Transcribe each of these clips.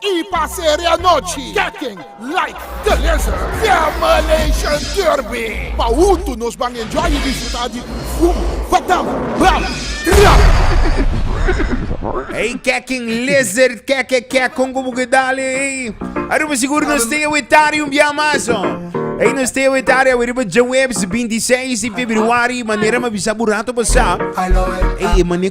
Y pa serie anochi keken like the lizard Demolition Derby pa hunto nos ban enjoy y disfruta di Fum Fatam Bam Ram. Ey keken lizard keke kek con cu bo ke dale ey Aruba sigur nos te awetari un bia mas ho Ey nos te awetari awe riba djaweps binti seis di februari manera mi a bisa bo rato pasa Ey e mane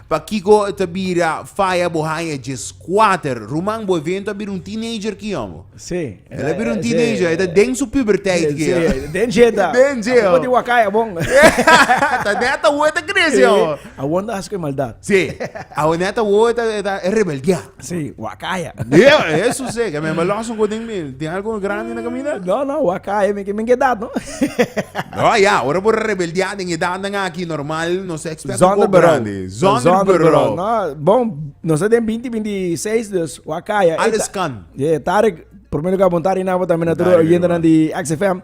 Pakico e ta bira faya bo haya dje squater? Ruman, bo evento a bira un teenager ki hombo. Sí. El a bira un teenager, e ta den su puberteit ki hombo. Sí, den dje ta. Den dje hombo. Apo di wakai awon. Ta net awo e ta crece hombo. Awon ta haci cu e maldad. Sí, awo net awo e ta rebeldea. Sí, wakaya. Dia, eso sé, que me los un godín mil. Tiene algo grande en la camina? No, no, wakaya, me que me edad, no? no, ya, ahora por rebeldear en edad dan aquí normal, no sé, expert Zonder grande. Zonder bureau. No, bon, no sé, den 20, 26, dus, wakaya. Alles kan. Ja, Tarek, primer lugar, bon Tarek, nabo también, na tru, oyente, na di XFM.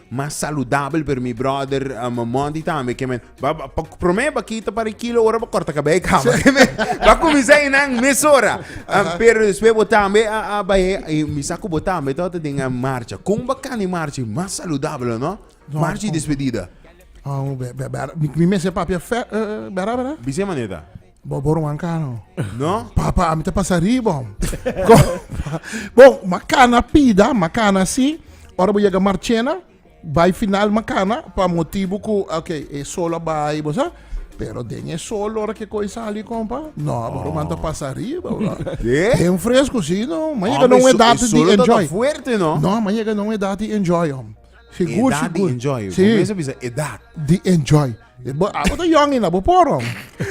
Mas saludabel pero mi brother um, Monty tambe ke men ba, ba, pa, prome ba kita para kilo ora ba corta cabello y cama ke men ba cuminsa y nan mes ora um, pero despues bo tambe a, a baye y mi sa cu bo tambe to ta den a marcha con bacan di marcha y mas saludabel no No, marcha y con- despedida Oh, be, be, be, mi, mi mes e papia fe, eh, bera, bera. bisema neta Bo bo ruan kano. No? Papa, ami ta pasa ribom. Bo, makana pida, makana si. Ora bo yega Marchena, bai final makana, pa motibu ku, ok, e sol a bai, bo sa. Pero den e sol ora ke koi sali, kompa, no, bo ruan ta pasa riba, bro. Sí? Bien fresco, sí, no. Ma yega Hombre, na un e so- edad e di solo ta enjoy. fuerte, no? No, ma yega na un edad di enjoy, om. Sigur, Edad di sigur. enjoy. Sí, Comienza bisa edad. di enjoy. E bo, abo ta yongi na bo poro.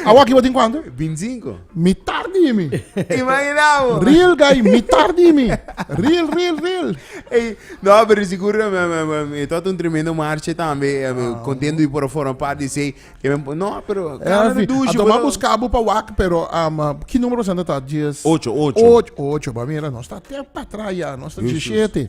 Awa ki bo tin cuanto? 25. Mitar di mi. Imaginabo. Real guy, mitar di mi. Real, real, real. Ey, no, pero seguro me, me, me, me tot un tremendo marche también. eh, me contento y por forma parte de sei. Que me, no, pero É, cara de fi, a douche, toma bro. buscar bo pa wak, pero um, uh, ki número santa tá? Dies... Ocho, ocho. Ocho, ocho, ba mira, nós tá até pra trás já, nós tá Justo. 17.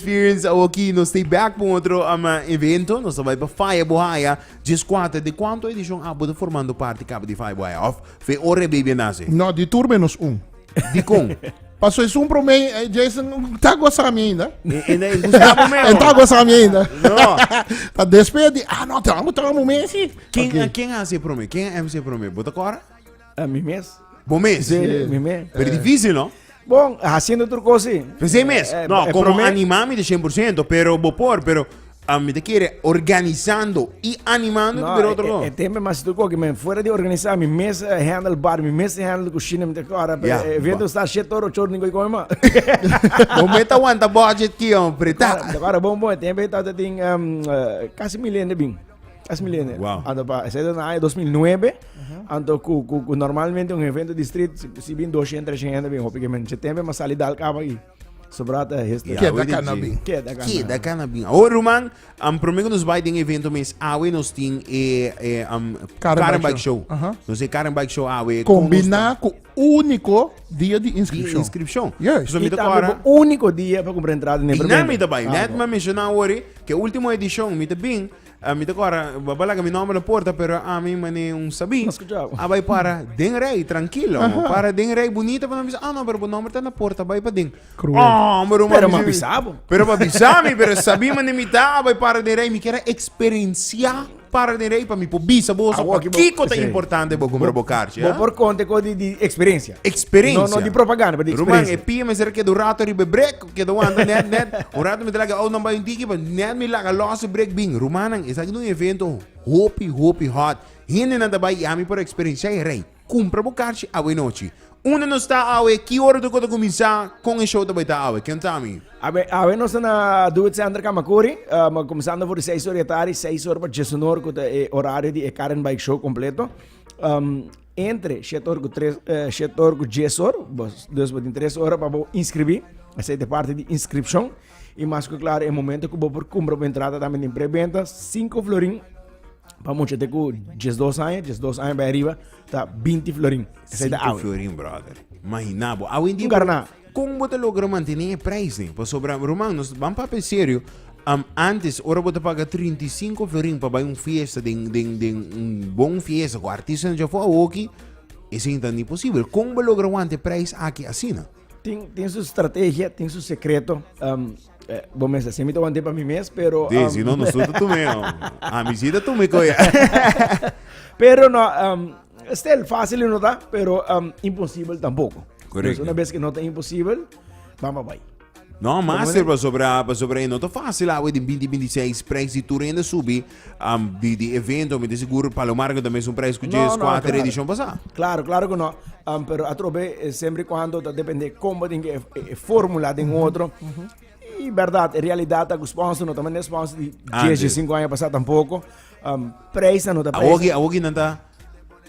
Fearens awoki nos ta e bek pa un otro evento. Nos ta bai pa Faya Buhaya djes kuater. Di kuantu edishon abo ta formando parti kaba di Faya Buhaya? Of fe ora e baby a nase? No, di tur menos un. Dikon? Pa su esun prome Jason ta gosa mi ainda. E na e gusta bo meo? E ta gosa mi ainda. No. Ta despe di, ah no, te amo, te amo mesi. Ken a ken a hasi e prome? Ken a mc e prome? Bo ta kora? A mi mes. Bo mes? Sí, mi mes. Pero difícil, no? Bon, haciendo otro cosa. Pues sí mes. Eh, eh, no, eh, como prome... animame de 100%, pero bo por, pero a mí te quiere organizando y animando no, pero otro. Eh, eh, tempo más tú que me fuera de organizar mi mes eh, handle bar, mi mes handle cocina, me te ahora yeah, eh, viendo está shit toro chor ni como más. Vos me aguanta budget que hombre, tá. Agora bom bom, tempo está tem um, casi milende bem. Es milenio. Wow. Anto pa, ese era na año 2009. Anto cu, cu, cu normalmente un evento de street, si, si bin 200, 300 gente bin hopi que men. Che tempe mas sali dal cabo aquí. Sobrata es historia. Queda Awe di cana G. bin. Queda cana. Ki da kana bin. Awor ruman, am promego nos bai den evento mes awe nos tin e e am Car and Car and Bike Bike Show. Aha. Nos e Car and Bike Show awe. Combina cu Úniko dia di inskripshon. Di inskripshon. Yes. So mi ta kora. Tambe bo úniko dia pa kumpra entrada den preventa. Dina mi ta bai. Net mi menshona wori ke último edishon mi ta bin, mi ta kora bo a laga mi nòmber na porta pero ami mane un sabí a bai para den rei trankilo. Para den rei bunita pa nan bisa, ah no pero bo nòmber ta na porta bai paden. Kruel. Pero mi a bisa bo. Pero mi a bisa mi pero sabí mane mi ta a bai para den rei mi kier a eksperensiá. Para den rei pa mi por bisa boso pa kiko ta importante bo kumbra bo karchi. Bo por konta ku di eksperensia. Eksperensia. No di propaganda, pero di eksperensia. Ruman, e pia mester a keda un rato riba e brek, keda wanta nèt nèt. Un rato mi ta laga ounan bai un tiki pa nèt mi laga lòs e brek bin. Rumannan, esaki ta un evento hopi hopi hòt. Hendenan ta bai i ami por eksperensiá e rei. Cumpra bo carchi awe nochi. Unda nos ta awe? Ki ora tur cu ta cuminsa? Con e show ta bay ta awe? Kion ta ami? Awe awe nos ta na Doet Center Camacuri, um, comenzando for di seis ora di atari, seis ora pa dies un ora cu ta e horario di e Car and Bike Show completo. Um, entre siete ora cu tres, eh, siete ora cu dies ora, bos, dus bo tin tres ora pa bo inscribi, esa te parte di inscription. Y mas cu claro, e momento cu bo por cumpra bo entrada tambe tin preventa, cinco florin, Pa mucha te ku diesdos aña, diesdos aña bai ariba, ta binti florin. Esei ta Sinti awe. florin, brother. Imagina bo. Awe en día, Un garná. kon bo ta logra mantené e prijs den? Pasobra, ruman, nos ban papia serio. Am, antes, ora bo ta paga 35 florin pa bai un fiesta den, den, den un bon fiesta ku artistanan djafó, awoki esei no ta ni posibel. Kon bo logra wanta e prijs aki asina? Tin tin su strategia, tin su secreto. Um, eh, bo mes así mi te wante pa mi mes, pero Sí, um, si no, nos suelta tu meo. A mi cita tu me coya. pero no um, stel fácil no ta, pero um, imposible tampoco. Correcto. Entonces, una vez que no está imposible, vamos a bye. No, master, pa sobra, pa sobra, no ta fácil, awe, din 2026, prijs di tur ende subi, Am di di evento mi ta sigur Palomar ku ta mesun prijs ku Jay Squad no, edishon pasa. Klaro, klaro ku no. Um, pero atrobe eh, sempre kuando ta depende kombo den e, e, formula den otro. I verdad, e realidad ta ku sponsor no ta mende sponsor di 10, 5 aña pasa tampoco. Um, prijs no ta prijs. Awogi, awogi nanta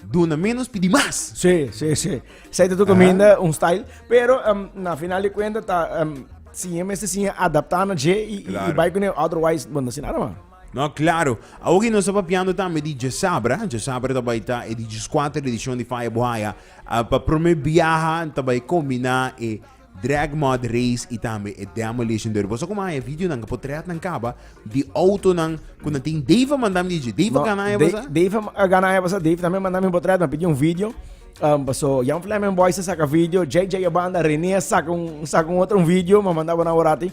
duna menos pidi mas. Sí, sí, sí. Zij tu cominda ah. un style, pero um, na final de cuenta ta um, si je meste si adaptar na je y, claro. y, y bij kunnen otherwise, bueno, sin nada más. No, claro. Awo ki nos ta papiando tambe di djesabra, djesabra ta bai ta e di djiskuater edishon di Faya Buhaya. Pa prome biaha ta bai kombiná e Drag Mud Race i tambe e Demolition Derby. Boso ku maya videonan ku potrètnan kaba di outonan ku nan tin. Dave a manda mi di dje. Dave a gana e basa? No, Dave a gana e basa. Dave tambe a manda mi un potrèt, a pidi un video. Paso Jan Fleming Boys a saka video, JJ a banda, Rene a saka un otro video, mi a manda bo nan awor aki.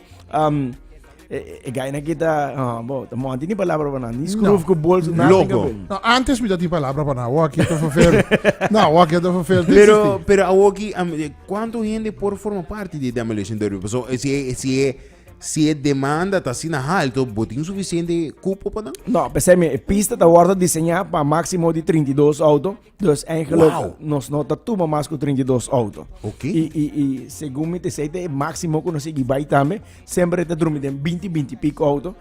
E gaina ki ta, ah, bo, ta monti ni palabra pa nan, ni scroof ku bols, nada Loco. tenga ben. No, antes mi dat die palabra para nou. Oké, te verveer. nou, oké, te verveer. Dit is Pero, die. pero awoki, am, eh, cuánto gente por forma parte de Demolition Derby? Paso, eh, si, eh, si, eh, si eh, demanda ta sina alto, botin suficiente cupo pa dan? No, pensei mi, e pista ta wordo diseñá pa máximo di 32 auto. Dus eigenlijk, wow. nos no ta tuma mas ku 32 auto. Ok. I, i, i segun mi te sei, te máximo ku nos igi bai tambe, sempre te drumi den 20, 20 pico auto.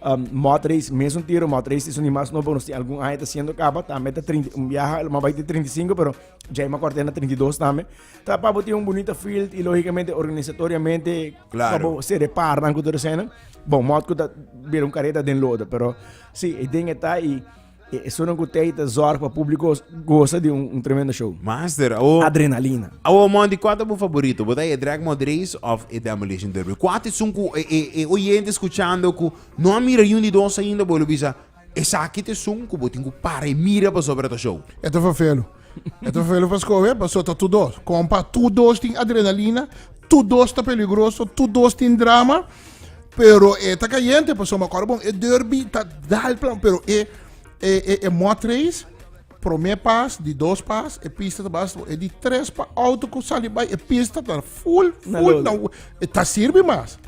Um, mod race, mesmo tiro, mod race is un mas nobo, nos tem algum ano tá sendo capa, também tá 30, um viaja, mas vai ter 35, pero já é uma quartena 32 também. Tá para ter um bonito field e, logicamente, organizatoriamente, claro. para se reparar com toda cena. Bom, mod que tá, vira um careta den loda, pero, sim, sí, e tem que tá e... E esonan ku tei ta zorg pa públiko gosa di un tremendo show. Master, awo. Adrenalina. Awo, Monty, kua ta bo faborito? Bo ta e Drag Mod Race òf e Demolition Derby? Kua ta esun ku e e e oyente skuchando ku no a mira niun di dos ainda, bo lo bisa, Esaki ta esun ku bo tin ku para i mira pasobra ta show? E ta fafelu. E ta felu pa skohe paso ta tur dos kompa, tur dos tin adrenalina, tur dos ta peligroso, tur dos tin drama, pero e ta kayente paso me akor bon e derby ta dal plan, pero e e e e mot race prome pas, di dos pas e pista ta basta bon, e di tres pa auto ku sali bai e pista ta full full na e ta sirbi mas.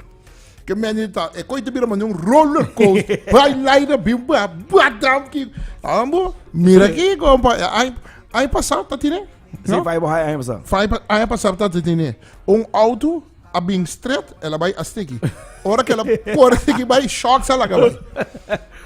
Ke mende di ta, e koi ta bira mane un roller coaster. Bai laida bin ba, ba dam ki. Ambo, mira ki kompa, ai ai pasar ta tine. Sí, no? bai bo hai ai pasar. Fai ai pasar ta tine. Un auto a bin straight, ela bai a sticky. Ora ke la por sticky bai shocks ala ka bai.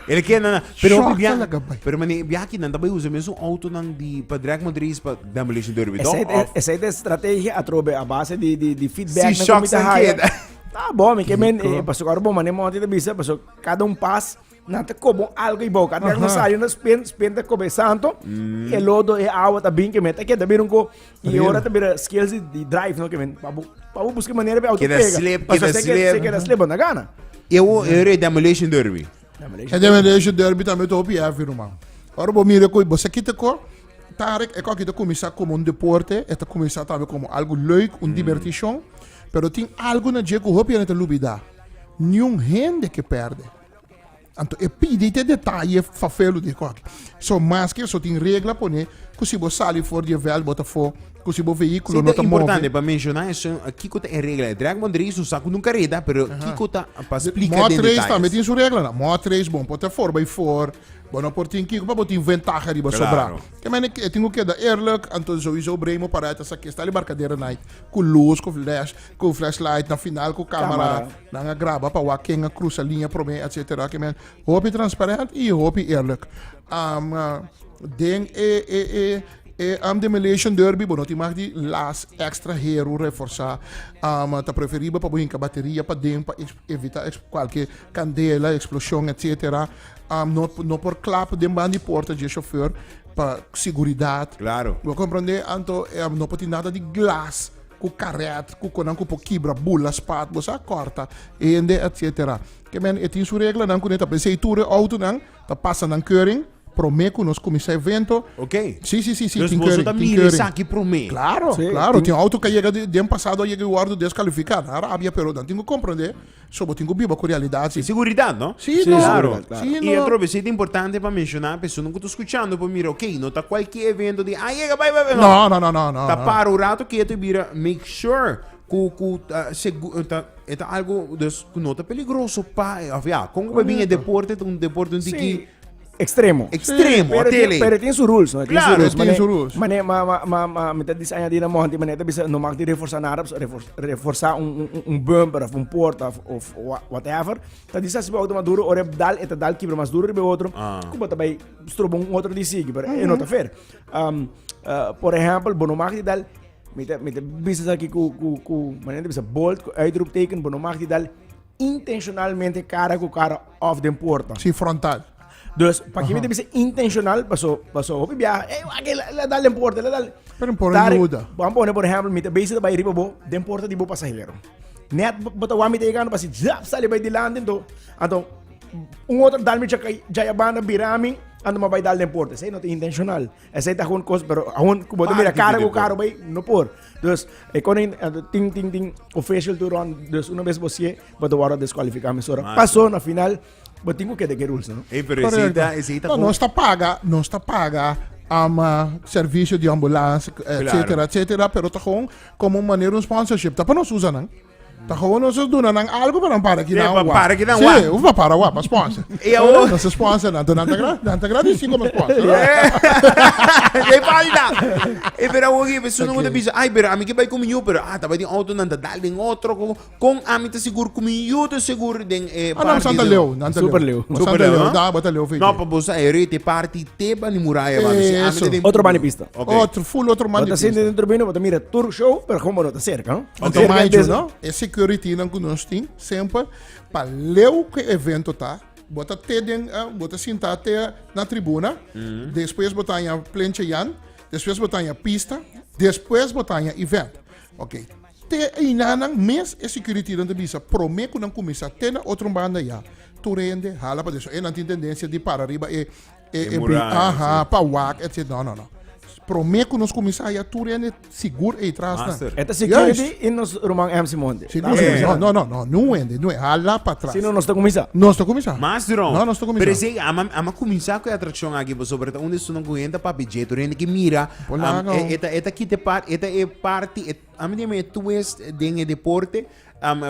Ele ke na, pero Shocks bia, ala ka bai. pero mane bia ki nan ta bai usa mesun auto nan di pa drag mo dris pa demolition derby Esa toch? es, Of esa es de estrategia atrobe a base di di di feedback si na shocks nan keda. Tá bom, mi que men, eh, pasó agora bom, mas nem ontem te bisa, pasó cada um pas, na te como algo e boca. Até não saiu na spin, spin te come santo, mm. e lodo e água tá bem que men, tá que tá bem um co, e ora tá bem skills de drive, não que men, para para buscar maneira para auto pega. Queda slip, queda slip. Queda slip, não gana. Eu eu demolition derby. E Generation Derby tambe ta hopi heavy ruman. Ora bo mira cu bo sa kita cu Tarek e cu aki ta cuminsa como un deporte, e ta cuminsa tambe como algo leuk, un diberticion, pero tin algo na dje cu hopi hende ta lubida, Niun hende ke perde. Anto e pidi te detaye fafelu di e cu aki. So, maske eso tin regla pone cu si bo sali for di e veld bo ta for. cu si bo vehículo no ta move. importante pa menciona esun, kico ta e regla? E drag bond race no sa cu nun careda, pero kico ta? Pa splica den detalles. Mot race tambe tin su reglanan. Mot race bon por ta four by four, bo no por tin kico pa bo tin ventaha riba sobra. Ke mene e tin cu keda eerlijk, anto souiso Brain mo para e ta saki e stali barcadera night cu luz, cu flash, cu flash light na final cu camera nan a graba pa wak ken a crusa linea prome etc. Ke men hopi transparent y hopi eerlijk. Den e E am demolition derby bo no tin mak di las extra heru reforsa am ta preferibel pa bo hinka bateria paden pa evita cualke candela explosion etc am no no por klap den ban di porta dje chauffeur pa siguridad Claro. bo comprende anto am no por tin nada di glas cu caret cu conan cu por kibra bula spat bo sa corta hende etc kemen e tin su reglanan cu ne ta pensei tur e autonan. Ta pasa nan keuring prome ku nos kuminsá evento. Ok. Si, si, si, si, Dus tin boso keuring, ta tin mira keuring. esaki prome. Claro, Sí, claro, tin- tin auto ku a yega di di an pasado a yega i wòrdu deskalifika. Nan rabia pero nan tin ku komprendé, so bo tin ku biba ku realidat si. Seguridat, no? Si, Sí, no. Claro. seguridad, Si, claro. I no. otro bes, ita importante pa menshoná, personan ku ta skuchando por mira, ok, no ta kualke evento di, ah, yega, bai, bai, bai, No, no, no, no, no, Ta no. para un rato ketu i bira, make sure Ku ku ta segu ta e ta algo dus ku no ta peligroso pa e of ya kon ku bai bin e deporte ta un deporte un tiki Sí. Extremo. Extremo, pero, tele. pero tiene su rules, no? Claro, tiene Mane- su rules. Mane, ma, ma, ma, ma, me ta dis añadi na monti, mane ta bisa, no mag di reforsa nada, pues, refor- reforsa un, un, un- un bumper, of un porta, of, of wha- whatever. Ta di sa si bo auto mas duro, ora dal, e ta dal kibra mas duro riba e otro, Ah. ku bo ta bai strobo un otro di sigi, pero e no ta fair. Um, uh, por ejempel, bo no mag di dal Mi ta, mi ta bisa sa ki ku, ku, ku, manen ta bisa bold, ku uitroepteken, bo no mag di dal intencionalmente cara ku cara of den porta. Si frontal. Dus, pa ki mi ta bisa intencional, paso, paso hopi biaha, ey, wa ke, la, la dal den porta, la dal. Pero mi por Tari- ayuda. Wan pone, por ehempel, mi ta bezi ta bai riba bo, den porta di bo pasahero. Net, bo, bo ta wan mi ta yegando, basi, zap, sali bai dilanti, anto, anto, un otro dal mi chakai, jaya banda bira mi, anto mi a bai dal den porta. Esei no ta intencional. Esei ta hun kos, pero hun ku bo te mira karo ku karo bay, no por. Dus, e konen ting ting ting official to run, dus una bes bo sie, bo ta wara deskwalifika mesora. Paso na final, bo ting ku kede ke rules, no? Hey, pero esei ta, esei ta. No, nos ta paga, nos ta paga ama servicio di ambulance, etcetera, etcetera, pero ta gewoon como manera un sponsorship, ta pa nos usa nan. Ta gewoon nos a duna nan algo pa nan para aquí nan wak. para aquí nan wak. Sí, hoef pa para wak, pa sponsor. Y awor. Nos a sponsor nan, nan ta gra, nan ta gra di si como sponsor. Dei falta. E pero awor e persoon okay. ta bisa, ay pero ami ke bai con mi yu, pero ah, ta bai den auto, nan ta dal den otro, con, con ami ta segur, con mi yu ta segur den e ah, nan santa leo, nan ta Super leo. Super leo, leo da, bata leo fei. No, pa bosa e rete party te bani muraya, mano. Si ami ta den... Otro bani pista. Okay. Otro, full otro bani pista. Bata sente dentro bino, bata mira tur show, pero como no ta cerca, no? Anto mayo no? E security nan ku nos tin semper pa leu ku e evento ta bo ta te den uh, bo ta sinta te na tribuna despues bo ta haña plenche yan despues bo ta haña pista despues bo ta haña event ok te einanan mes e security nan ta bisa prome ku nan kuminsá te na otro banda ya tur hende hala paden so e nan tin tendencia di para riba e E e bri aha pa wak etc no no no prome ku nos kuminsá ya tur hende sigur ei tras na E ta security i nos ruman M. Simonte. Sigur si no no no no nu hende nu hala pa tras Sino nos ta kuminsá. nos ta kuminsá Mas dron. no nos ta kuminsá Pero esei ama ama kuminsá ku e atrakshon aki pasobra e ta un destunnan ku hende ta papia dje tur hende ke mira Por am laga, e o. e ta e ta kita e par e ta e parti e Ami tin mi e twist den e deporte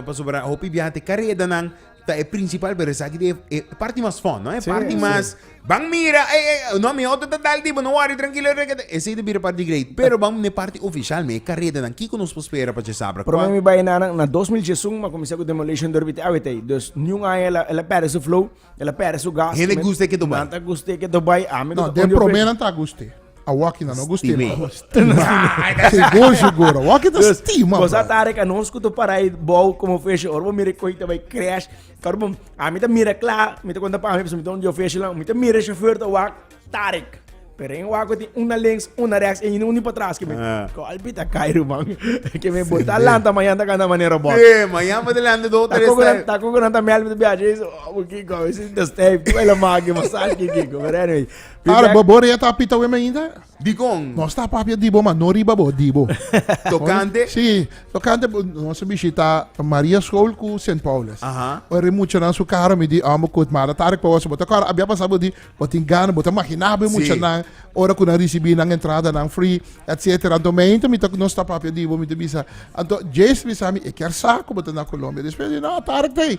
pasobra hopi biaha te karedanan ta e principal pero esaki ta e parti mas fun no e parti mas ban mira ey ey no mi auto ta dal di bo no worry trankilo esey ta bira parti great pero bam na e parti official mi e karedanan kiko nos por spera pa cesabra Pero mi bai na nan na dos mil diesun mi a kuminsá ku Demolition dor biti awe t'ei dus niun aña el a el a pèrdè su flow el a pèrdè su gas hende gusta e keto bai nan ta gusta e keto bai ami no den prome nan ta gusta. A waki na no go stima. Se gojo gora. Waki ta stima. Cosa tare ka nos kuto para i bou como feshi. Ora bo mire koi ta bai crash. Karo bo, a mi ta mira kla. Mi ta konta pa mi, paso mi ta un feshi la. Mi ta mira e chauffeur ta wak tarik. Pero en wak tin una lens, una reks, en unu pa tras. Golpi ta kai ruman. Ke me bota lanta mañan ta kanta manera bot. E, mañan bo ta lanta do tres step. Ta koko nan ta mel mi ta biachi. Kiko, mi sinta step. Kiko el a maki, massage ki kiko. Pero anyway, Ara bo bo rea ta pita wem ainda? Dikon? Nos ta papia dibo, ma no riba bo, dibo. Tokante? Si, tokante nos a bishita Maria School ku Sint Paulus. Aha. Bo ri muchanan su karo mi di ambo kut mara tarik pa wos. Bo ta kòrda abia pasa bo di bo tin gana, bo ta mahiná bo e muchanan ora ku nan risibí nan entradanan free, etsetera. Anto mi ainda mi ta nos ta papia dibo, mi ta bisa. Anto Jace bisa mi e kier sa ku bo ta na Colombia. Despues mi di no, tarik t'ei.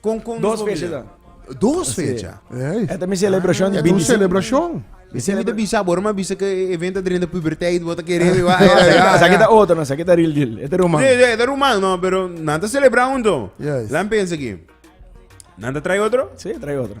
Kon kon nos por bisa ta? Dos fecha. E ta mi celebrashon di binti simi. Mi simi ta bisa bo, mi a bisa ku e evento ta drenta puberteit, bo ta kere mi wak. Esaki ta otro, esaki ta real deal. E ta ruman. Si, si, e ta ruman, no, pero nan ta celebra huntu. Laami pensa aki. Nan ta trae otro? Si, trae otro.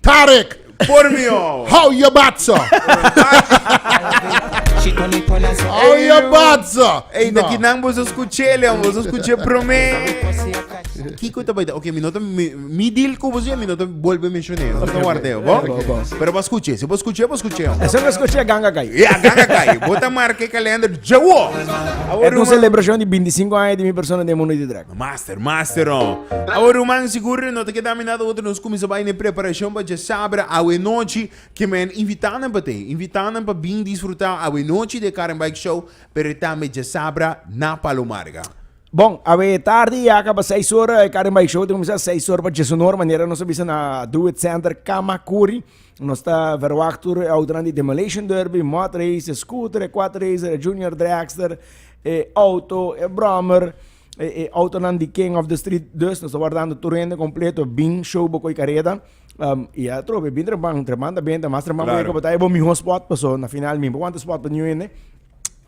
Tarek! Por mi oh. How ya batso? How ya batso? Ey, ta kinan boso scuche, Leon, boso scuche prome. Kiko ta baita, ok, mi nota, mi, mi deal ku boso, mi nota bolbe menshone, no ta wardeo, bo? Pero bo scuche, si bo scuche, bo scuche. Eso no escuché ganga kai. Ya, ganga kai, bota marke kalender, jawo! Eto un celebracion di 25 aña di mi persona den mundo di drag. No master, master no. Awe ruman, sigur no ta keda mi nada otro nos cuminsa bay na e preparacion pa dje sabra awe nochi. Ke men invita nan pa te, invita nan pa bin disfruta awe nochi de Car and Bike Show, pero tambe dje sabra na Palomarga. Bon, awe tardi ya caba seis ora, e Car and Bike Show ta cuminsa seis ora pa dje sonor, manera nos a bisa na Do It Center Kamakuri. Nos ta verwagt tur e outonan di Demolition Derby, Mud Race, e Scooter, e Quad Racer, e Junior Dragster, e Auto, e Brommer, e, e outonan di King of the Street. Dus nos ta wardando tur hende completo bin show bo coi careda. Um, y a trobe, bin trepan, trepan ta benta, mas trepan claro. bo ta bo miho spot, paso na final mi, bo wanta spot pa new hende.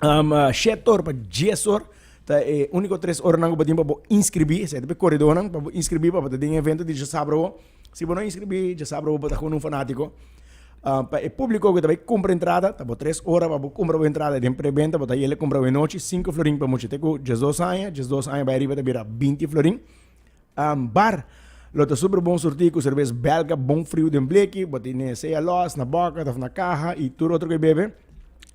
Um, uh, shetor pa jesor, ta e único tres horas nan bo tin pa bo inscribí, se te pe corredor nan, pa bo inscribí, pa bo te den evento di sabro Si bo no inscribí dja sabra bo bo ta con un fanatico pa e publico que ta bay cumpra entrada ta bo tres ora pa bo cumpra bo entrada den preventa bo ta yele cumpra bo e nochi cinco florin pa muchanan cu diesdos aña diesdos aña bay ariba ta bira binti florin bar lo ta super bon surti cu cervez belga bon frio den bleki bo tene sea loss na boca of na caha y tur otro cu a bebe.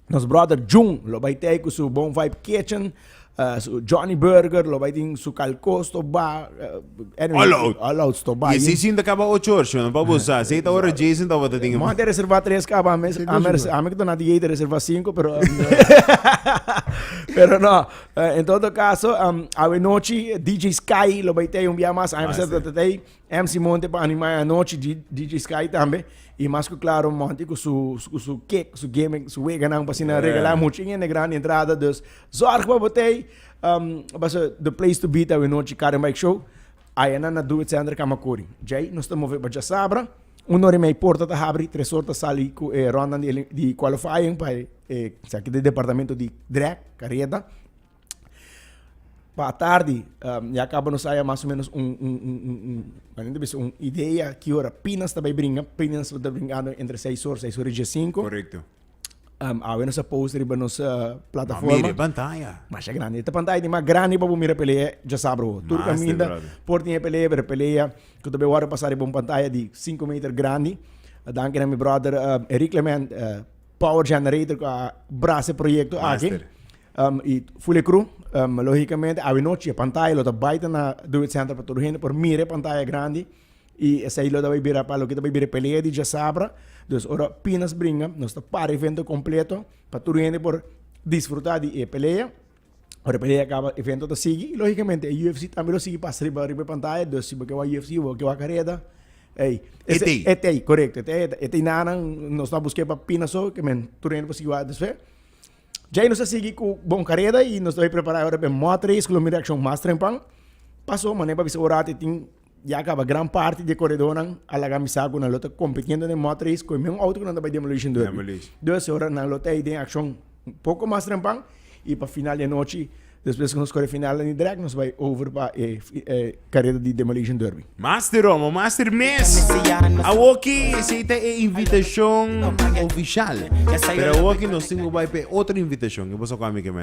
Nos brother Jun lo bai tei ku su Bon Vibe Kitchen. Uh, su Johnny Burger lo bai tin su kalkos to ba. Uh, anyway, All out. All out to ba. Y si sin te acaba ocho horas, no pa bosa. Si esta hora Jason te wata ding. Mante reserva tres kaba ames ames ames dona di jete reserva cinco pero pero no. Uh, en todo caso, um, awe nochi DJ Sky lo bai tei un bia mas ames te tei. MC Monte pa animae anochi, DJ Sky tambe, y mas cu claro Monty cu su, cu su kick, su gimmick, su weganan pa sina regala mucho en grande entrada, dus zorg pa botey, um, basa the place to be ta awe nochi Car and Bike Show, ayanan na Doe Center Kamakuri. Djay nos ta move pa Djasabra, un ora y mei porta ta habri, tres ora ta sali cu e rondan di qualifying pa e, esaki ta e departamento di drag, careta. Pa atardi, ya kaba nos haya mas o menos un, un, un, un, un, mane ta bisa? Un idea ki ora Pinas ta bai bringa. Pinas ta brinkando entre seis hora, seis hora y diezcinco. Korekto. Awe nos a post riba nos plataforma. Mira e pantaya. Masha grandi. E ta pantaya di mas grandi pa bo mira e pelea diasabro. Mas te brother. Tur caminda por tin e pelea, pero e pelea cu ta bai wordo pasa riba un pantaya di cinco meter grandi. Danki na mi brother Eric Clement. power generator cu a bras e proyecto aki. Master. Um, y Fulecru, um, lógicamente, awe noche e pantalla lo ta baita na Do It Center pa todo gente por mire pantalla grandi y esai lo ta bai bira pa lo que ta bai bira pelea di Jasabra. Dus ora Pinas bringa, nos ta para evento completo pa todo gente por disfrutar di e pelea. Ora pelea a kaba, evento ta sigui i lógikamente e UFC tambe lo sigui pas riba e pantaya, dus si bo ke wak UFC i bo ke wak kareda, ei, e t'ei, e t'ei, korekto, e t'ei, e t'ei nanan nos no a busk'é pa pina so ke men tur hende por sigui wak. Despues, djei nos a sigui ku bon kareda i nos ta bai prepará ora p'e mòt reis ku lo mira akshon mas trempan. Pas so, manera pa bisa ora ti tin. Ya kaba, gran parti di e koredónan a laga mi sa ku nan lo ta kompitiendo den mòt reis ku e mesun outo ku nan ta bai Demolition Derby. Demolition. Dus ora nan lo ta ei den akshon un poko mas trempan i pa final di anochi, despues ku nos kore final dandi drèk, nos bai over pa e fi- e kareda di Demolition Derby. Master Romo, Master Mes, awoki esei ta e invitashon ofishal. Pero awoki nos tin ku bai pa e otro invitashon. Ke pasó ku Amike Mel?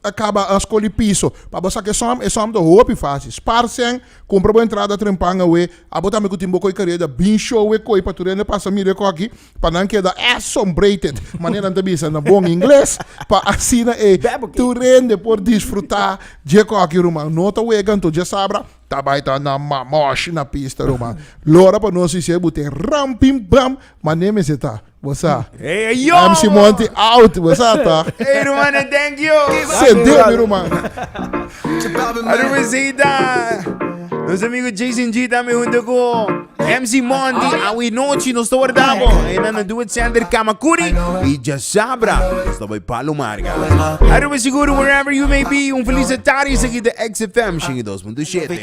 Ta caba a scoli piso pa bo saca e som, e som ta hopi faci. Sparcen, cumpra bo entrada trempan awe. Abo tambe cu tin bo coi caria da bin show e coi pa tur hende pasa mira e coki pa nan keda assombrated, manera nan ta bisa na bon ingles, pa asina e tur hende por disfruta dje coki ruman. No ta wega anto dja sabra. Ta bai ta na mamoshi na pista Roma. Lo ora pa nos isi e bu ten ram pim pam ma ne mester ta. Bo sa. Ey a yo MC bo. Monty out bo sa ta. Ey ruman e thank you. Sende mi ruman. A ruman Zeta. Nos amigo Jason G tambe hunto cu. MC Mondi, awi nochi nos ta warda bo. En Ana Duet Center Kamakuri y ya sabra, nos ta bay Palo Marga. Aruba seguro wherever you may be. Un feliz tarde aquí de XFM 102.7.